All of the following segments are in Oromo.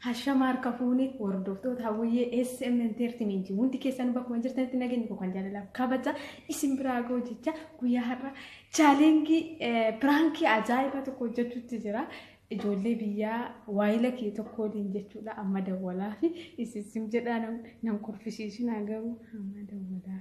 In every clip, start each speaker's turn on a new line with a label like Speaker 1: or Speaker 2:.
Speaker 1: Hashama harka fuune hordoftoota hawwiyyee SM Entertainment hundi keessan bakkuma jirtanitti nageenya koo kan jaalalaaf kabaja isin biraa ga'u jecha guyyaa har'a chaalengii piraankii ajaa'ibaa tokko hojjechuutti jira. Ijoollee biyyaa waayila kee tokko waliin jechuudha amma dawwalaa fi isin jedhaa nan kurfisiisinaa garuu amma dawwalaa.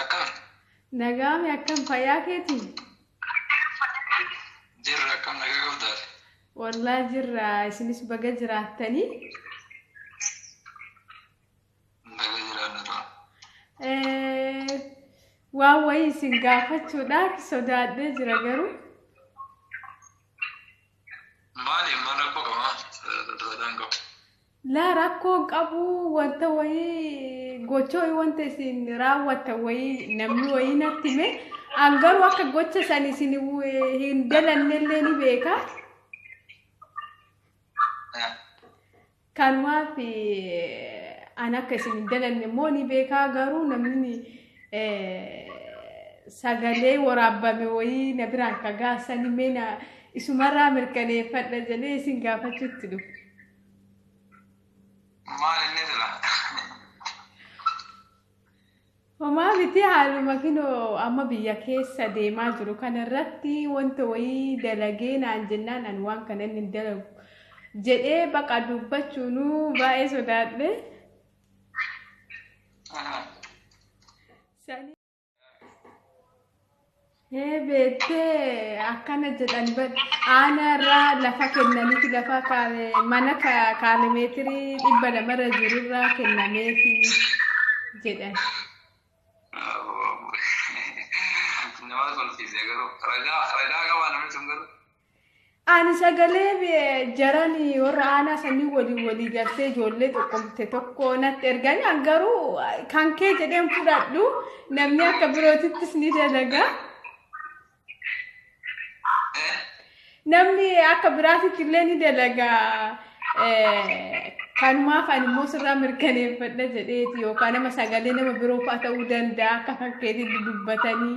Speaker 1: Akkam Nagaame akkam fayyaa keeti?
Speaker 2: jirra akkam nagaa qabdaati. Wallaa
Speaker 1: jirra isinis baga jiraattanii.
Speaker 2: Nagaa jiraanna tura. Eh,
Speaker 1: Waan wayii isin gaafachuudhaaf sodaadhee jira garuu.
Speaker 2: Maali maal rakkoo qaba? Sodaadhaan qabu. Laa
Speaker 1: rakkoon qabu wanta wayii gocha wayii wanta isin raawwattan wayii namni wayii natti hime an garuu akka gocha san isin hin dalannellee ni beeka. Kanumaaf an akka isin hin dalanne immoo ni beeka garuu namni sagalee waraabbame wayii na biraan ka gaasanii mee na isumarraa mirkaneeffadha jedhee isin gaafachuutti dhufu.
Speaker 2: Maal inni
Speaker 1: jira? Homaa miti haaluma kinoo amma biyya keessa deemaa jiru kanarratti wanta wayii dalagee naan jennaan ani waan kana inni hin dalagu jedhee baqa dubbachuunuu baay'ee sodaadhe. Sani- Ee beektee akkana jedhan bar aana irraa lafa kennaniif lafa kaale mana ka- kaalimeetirii dhibba lamarra jiru irraa kennameefi jedhan. Nama
Speaker 2: kolfiise garuu ragaa ragaa qabaa namichi kun garuu. Ani
Speaker 1: sagalee jaran warra aanaa sanii waliin walii galtee ijoollee tokkomte tokko natti erganii an garuu kan kee jedheen fudhadhu namni akka birootittis ni dalaga. Namni akka biraatitti illee ni dalaga. Kanumaaf ani immoo sirraa mirkaneeffadha jedheeti yookaan nama sagalee nama biroo fa'a ta'uu danda'a akka fakkeetitti dubbatanii.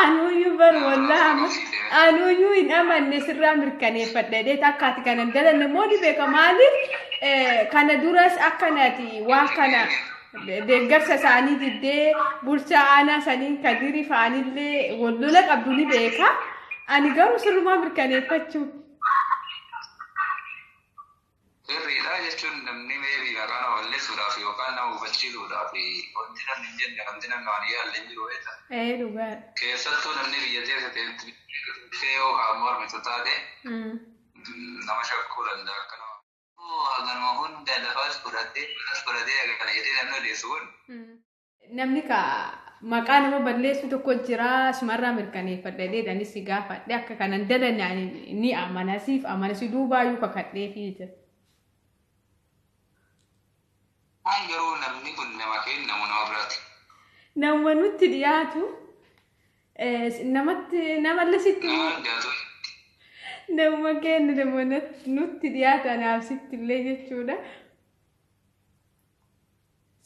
Speaker 2: Anuuyyuu
Speaker 1: bar wallaa anuuyyuu hin amanne sirraa mirkaneeffadha jedhee akka ati kana hin dalanne moo ni beeka maaliif eh, kana duras akkanati waa kana deeggarsa isaanii diddee bulchaa aanaa saniin kadirii fa'anillee wallola qabdu ni beeka ani garuu sirrumaa mirkaneeffachuu
Speaker 2: Sirriidha jechuun namni maybe maqaa nama balleessuudhaaf yookaan nama gufachiisuudhaaf wanti namni hin jenne wanti namni waan hin yaalle hin jiru beekta. Ee dhugaadha. Keessattuu
Speaker 1: namni
Speaker 2: biyya keessa ta'etti dhufee yoo kan mormitu taate Mm. nama shakkuu danda'a akka nama. Haganuma hunda lafas fudhatee malas fudhatee hagana jedhee namni odeessu kun Mm. Namni
Speaker 1: ka maqaa nama balleessu tokko jira sumarraa mirkaneeffadha jedhee dani si gaafadhe akka kanan dalanne ani ni amana siif amana si duubaayyuu kakadhee fi jira. Waan garuu namni
Speaker 2: kun nama kenna moo nama biraati? Nama
Speaker 1: nutti dhiyaatu eh, namatti namallee sitti Nama immoo
Speaker 2: hundaatu
Speaker 1: nama kenna nama nat- nutti dhiyaatu anaaf sitti illee jechuudha.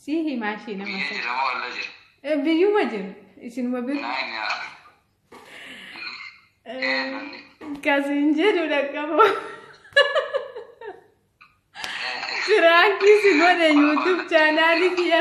Speaker 1: Sii himaa ishee nama Biyya sana. jira moo alla jira?
Speaker 2: Eh, Biyyuma jira.
Speaker 1: Isinuma bira. Naa inni haa. Ee lolli. Kasiin jedhu dhaqqabu. Firaankiis godhe YouTube chaanaalii kiyya.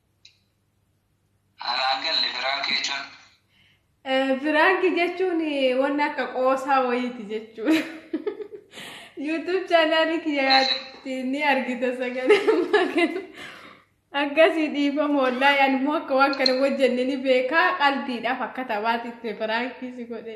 Speaker 1: Anaan galle biraan keechuun. Biraanki jechuun wanna akka qoosaa wayiiti jechuudha. YouTube chaanaalii kiyyaatti ni argita sagalee ammaa kana. Akkasii dhiifama wallaahi ani immoo akka waan kana hojjenne ni beekaa qalbiidhaaf akka taphaatti itti biraankiis godhe.